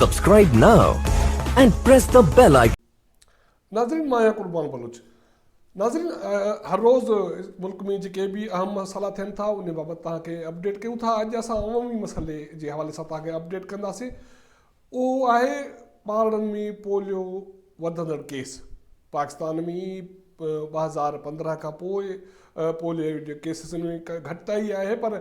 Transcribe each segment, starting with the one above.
Subscribe now and press the bell icon. ناظرين مان آهيان قربان بلوچ ناظرين هر روز ملڪ ۾ جيڪي به اهم مسئلا ٿين ٿا ان بابت توهان کي اپڊيٽ ڪيون ٿا اڄ اسان عمومي مسئلي جي حوالي سان توهان کي اپڊيٽ ڪنداسين اهو آهي ٻارڙن ۾ پوليو وڌندڙ ڪيس، پاڪستان ۾ ٻه هزار پندرهن کان پوء پوليو جي ڪيسز ۾ گهٽتائي آهي پر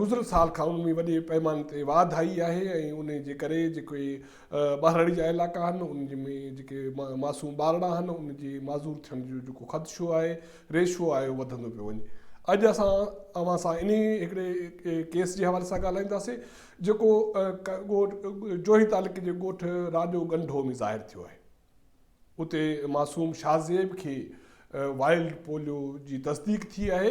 گذريل سال کان ان ۾ وڏي پيماني تي واڌ آئي آهي ۽ ان جي ڪري جيڪي ٻهراڙي جا علائقا آهن ان ۾ جيڪي معصوم ٻارڙا آهن ان جي معذور ٿيڻ جو جيڪو خدشو آهي ريشو آهي وڌندو پيو وڃي اڄ اسان اوهان سان انهي هڪڙي ڪيس جي حوالي سان ڳالهائينداسين جيڪو جوهي تعلقي جي ڳوٺ راڄو ڳنڍو ۾ ظاهر ٿيو آهي. اتي معصوم شاهزيب کي وائلڊ پوليو جي تصديق ٿي آهي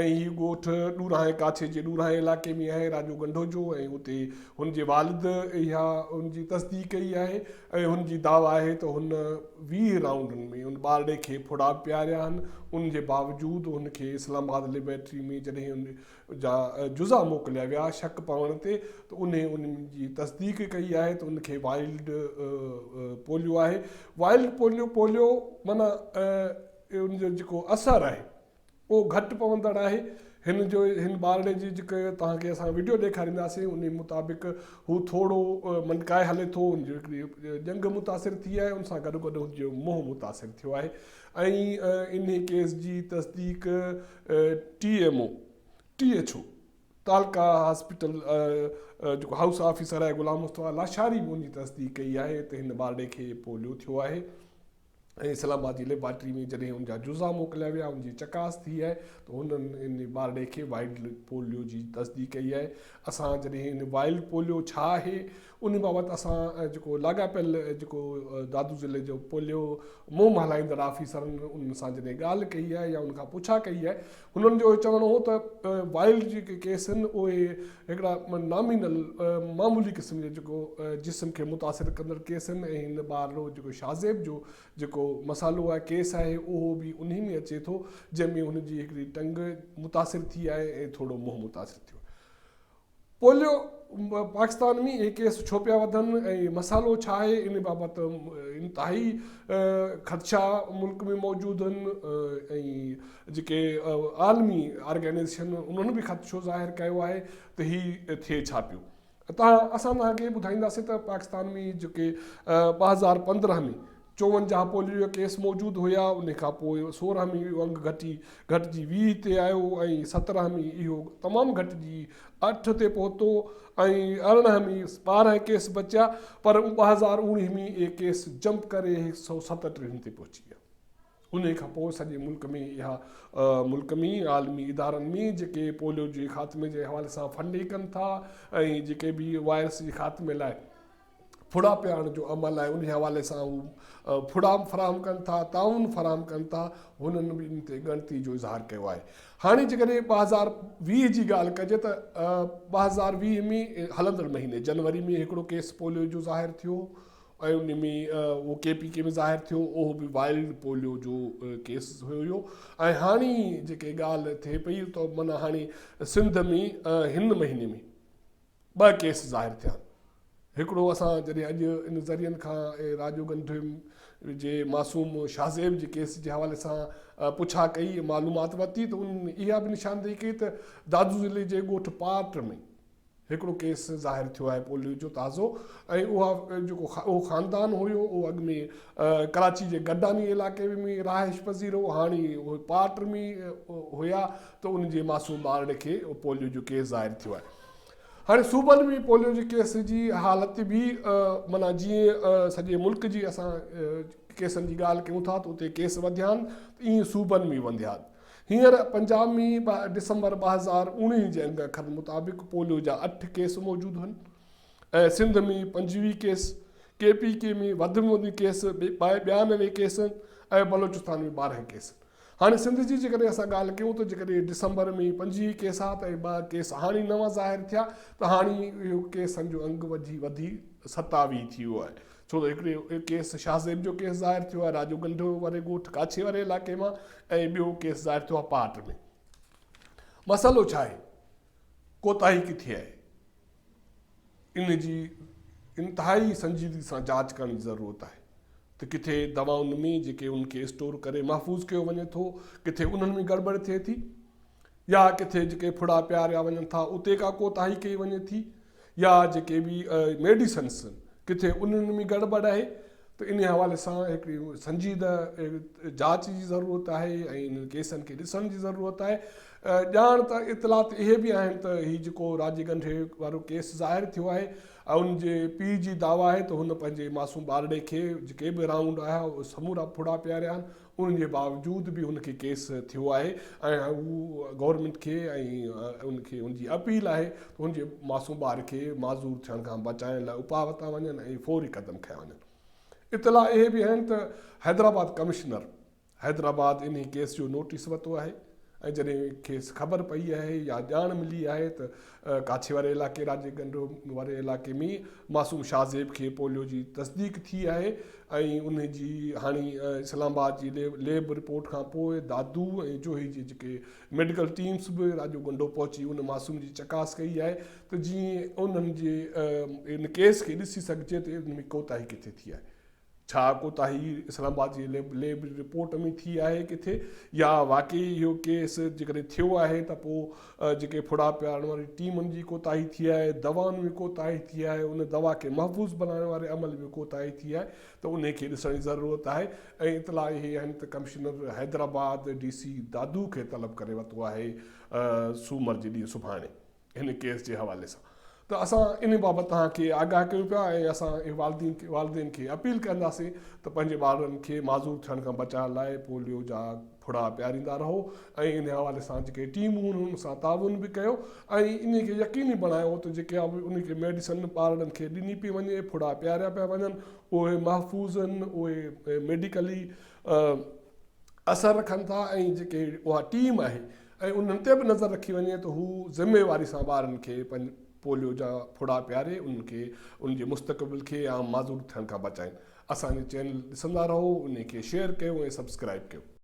۽ هي ڳوٺ ڏورانهين ڪاڇي جي ڏورانهين علائقي ۾ آهي راڄو ڳنڍو جو ۽ اتي هن جي والد اها هن جي تصديق ڪئي آهي ۽ هن جي دعويٰ آهي ته هن ويهه رائونڊن ۾ ان ٻارڙي کي ڦڙا پياريا آهن ان جي باوجود هن کي اسلام آباد ليبارٽري ۾ جڏهن جا جزا موڪليا ويا، شڪ پوڻ تي ته انهي ان جي تصديق ڪئي آهي ته ان کي وائلڊ پوليو آهي. وائلڊ پوليو، پوليو معنيٰ ان جو جيڪو اثر آهي اهو گهٽ پوندڙ آهي. هن جو هن ٻارڙي جي جيڪي توهان کي اسان وڊيو ڏيکارينداسين انهي مطابق هو ٿورو منڊڪائي هلي ٿو، ان جي هڪڙي ڄنگهه متاثر ٿي آهي ان سان گڏوگڏ هن جو منهن متاثر ٿيو آهي ۽ انهي ڪيس جي تصديق T M O, T H O, تعلقه هاسپيٽل جيڪو هائوس آفيسر آهي غلام مصطفيٰ لاشاري به ان جي تصديق ڪئي آهي ته هن ٻارڙي کي پوليو ٿيو آهي ۽ اسلام آباد جي ليبارٽري ۾ جڏهن ان جا جزا موڪليا ويا ان جي چڪاس ٿي آهي ته هنن ان ٻارڙي کي وائلڊ پوليو جي تصديق ڪئي آهي اسان جڏهن ان وائلڊ پوليو ڇا آهي ان بابت اسان جيڪو لاڳاپيل جيڪو دادو ضلعي جو پوليو مهم هلائيندڙ آفيسرن انهن سان جڏهن ڳالهه ڪئي آهي يا انهن کان پڇا ڪئي آهي انهن جو اهو چوڻ هو ته وائلڊ جيڪي ڪيس آهن اهي هڪڙا نامينل معمولي قسم جا جيڪو جسم کي متاثر ڪندڙ ڪيس آهن ۽ هن ٻار لو جيڪو شاهزيب جو جيڪو مسئلو آهي ڪيس آهي اهو به انهي ۾ اچي ٿو جنهن ۾ هن جي هڪڙي ٽنگ متاثر ٿي آهي ۽ ٿورو منهن متاثر ٿيو پوليو پاڪستان ۾ اهي ڪيس ڇو پيا وڌن ۽ مسئلو ڇا آهي ان بابت انتهائي خدشا ملڪ ۾ موجود آهن ۽ جيڪي عالمي آرگنائزيشن انهن به خدشو ظاهر ڪيو آهي ته هي ٿئي ڇا پيو اسان توهان کي ٻڌائينداسين ته پاڪستان ۾ جيڪي ٻه هزار پندرهن ۾ چوونجاهه پوليو جا ڪيس موجود هيا، انهي کان پوء سورهن ۾ اهو انگ گهٽي گهٽجي ويهه تي آيو ۽ سترهن ۾ اهو تمام گهٽجي اٺ تي پهتو ۽ ارڙهن ۾ ٻارهن ڪيس بچيا پر ٻه هزار اوڻيهه ۾ اهي ڪيس جمپ ڪري هڪ سؤ ستٽيهن تي پهچي ويا. انهي کان پوء سڄي ملڪ ۾ اها ملڪ ۾ عالمي ادارن ۾ جيڪي پوليو جي خاتمي جي حوالي سان فنڊنگ ڪن ٿا ۽ جيڪي به وائرس جي خاتمي لاء ڦڙا پياڻ جو عمل آهي انهي حوالي سان هو ڦڙا فراهم ڪن ٿا تعاون فراهم ڪن ٿا هنن به ان تي ڳڻتي جو اظهار ڪيو آهي هاڻي جيڪڏهن ٻه هزار ويهه جي ڳالهه ڪجي ته ٻه هزار ويهه ۾ هلندڙ مهيني جنوري ۾ هڪڙو ڪيس پوليو جو ظاهر ٿيو ۽ ان ۾ اهو ڪي پي ڪي ۾ ظاهر ٿيو اهو به وائلڊ پوليو جو ڪيس هيو ۽ هاڻي جيڪي ڳالهه ٿئي پئي ته مانا هاڻي سنڌ ۾ هن مهيني ۾ ٻه ڪيس ظاهر ٿيا. هڪڙو اسان جڏهن اڄ ان ذريعن کان ۽ راجو گنڌويم جي معصوم شاهزيب جي ڪيس جي حوالي سان پڇا ڪئي ۽ معلومات ورتي ته انهن اها به نشاندهي ڪئي ته دادو ضلعي جي ڳوٺ پارٽ ۾ هڪڙو ڪيس ظاهر ٿيو آهي پوليو جو تازو ۽ اها جيڪو اهو خاندان هيو اهو اڳ ۾ ڪراچي جي گڏاني علائقي ۾ رهائش پذير هو هاڻي اهي پارٽ ۾ هيا ته انهن جي معصوم ٻارڙي کي پوليو جو ڪيس ظاهر ٿيو آهي هاڻي صوبن ۾ پوليو جي ڪيس جي حالت به معنيٰ جيئن سڄي ملڪ جي اسان ڪيسن جي ڳالهه ڪيون ٿا ته اتي ڪيس وڌيا آهن ته ائين صوبن ۾ وڌيا آهن هينئر پنجاب ۾ ڊسمبر ٻه هزار اوڻيهه جي انگ اکرن مطابق پوليو جا اٺ ڪيس موجود هن ۽ سنڌ ۾ پنجويهه ڪيس ڪي پي ڪي ۾ وڌ ۾ وڌ ڪيس ٻيانوي ڪيس ۽ بلوچستان ۾ ٻارهن ڪيس هاڻي سنڌ جي جيڪڏهن اسان ڳالهه ڪيون ته جيڪڏهن ڊسمبر ۾ پنجويهه ڪيس ها ته اهي ٻه ڪيس هاڻي نوان ظاهر ٿيا ته هاڻي اهو ڪيسن جو انگ وڌي وڌي ستاويهه ٿي ويو آهي ڇو ته هڪڙو ڪيس شاهه زيب جو ڪيس ظاهر ٿيو آهي راجو گنڊو واري ڳوٺ ڪاڇي واري علائقي مان ۽ ٻيو ڪيس ظاهر ٿيو آهي پاٽ ۾ مسئلو ڇا آهي ڪوتاهي ڪٿي آهي ان جي انتهائي سنجيدگي سان جاچ ڪرڻ جي ضرورت آهي ته ڪٿي دوائن ۾ جيڪي ان کي اسٽور ڪري محفوظ ڪيو وڃي ٿو ڪٿي انهن ۾ گڙبڙ ٿئي ٿي يا ڪٿي جيڪي ڦڙا پياريا وڃن ٿا اتي ڪا ڪوتاهي ڪئي وڃي ٿي يا جيڪي به ميڊيسنس ڪٿي انهن ۾ گڙٻڙ آهي ته انهي حوالي سان هڪڙي سنجيده جاچ جي ضرورت آهي ۽ انهن ڪيسن کي ڏسڻ جي ضرورت آهي ڄاڻ ته اطلاعات اهي به آهن ته هي جيڪو راجي ڳنڍي وارو ڪيس ظاهر ٿيو آهي ان جي پيء جي دعويٰ آهي ته هن پنهنجي معصوم ٻارڙي کي جيڪي به رائونڊ آهيا اهي سمورا ڦڙا پياريا آهن ان جي باوجود به ان کي ڪيس ٿيو آهي ۽ هو گورنمينٽ کي ۽ ان کي ان جي اپيل آهي ته ان جي معصوم ٻار کي معذور ٿيڻ کان بچائڻ لاء اپاء ورتا وڃن ۽ فوري قدم کنيا وڃن. اطلاع اهي به آهن ته حيدرآباد ڪمشنر حيدرآباد انهي ڪيس جو نوٽيس ورتو آهي ۽ جڏهن کيس خبر پئي آهي يا ڄاڻ ملي آهي ته ڪاڇي واري علائقي راڄي گنڊو واري علائقي ۾ معصوم شاهزيب کي پوليو جي تصديق ٿي آهي ۽ ان جي هاڻي اسلام آباد جي ليب رپورٽ کان پوء دادو ۽ جوهي جي جيڪي ميڊيڪل ٽيمز به راڄو گنڊو پهچي ان معصوم جي چڪاس ڪئي آهي ته جيئن انهن جي ان ڪيس کي ڏسي سگهجي ته ان ۾ ڪوتاهي ڪٿي ٿي آهي ڇا ڪوتاهي اسلام آباد جي ليب رپورٽ ۾ ٿي آهي ڪٿي يا واقعي اهو ڪيس جيڪڏهن ٿيو آهي ته پوء جيڪي ڦڙا پيارڻ واري ٽيم ان جي ڪوتاهي ٿي آهي دوائن ۾ ڪوتاهي ٿي آهي ان دوا کي محفوظ بنائڻ واري عمل ۾ ڪوتاهي ٿي آهي ته انهي کي ڏسڻ جي ضرورت آهي ۽ اطلاع اهي آهن ته commissioner Hyderabad D C Dadu کي طلب ڪري ورتو آهي سومر جي ڏينهن سڀاڻي هن ڪيس جي حوالي سان ته اسان ان بابت توهان کي آگاهه ڪيون پيا ۽ اسان والدين کي اپيل ڪنداسين ته پنهنجي ٻارڙن کي معذور ٿيڻ کان بچائڻ لاء پوليو جا ڦڙا پياريندا رهو ۽ ان حوالي سان جيڪي ٽيمون هن ان سان تعاون به ڪيو ۽ ان کي يقيني بڻايو ته جيڪي ان کي ميڊيسن ٻارڙن کي ڏني پئي وڃي ڦڙا پياريا پيا وڃن اهي محفوظ آهن اهي ميڊيڪلي اثر رکن ٿا ۽ جيڪي اها ٽيم آهي ۽ انهن تي به نظر رکي وڃي ته هو ذميواري سان ٻارن کي پوليو جا ڦڙا پياري انهن کي انهن جي مستقبل کي عام معذور ٿيڻ کان بچائين اسان جي چينل ڏسندا رهو انهي کي شيئر ڪيو ۽ سبسڪرائيب ڪيو.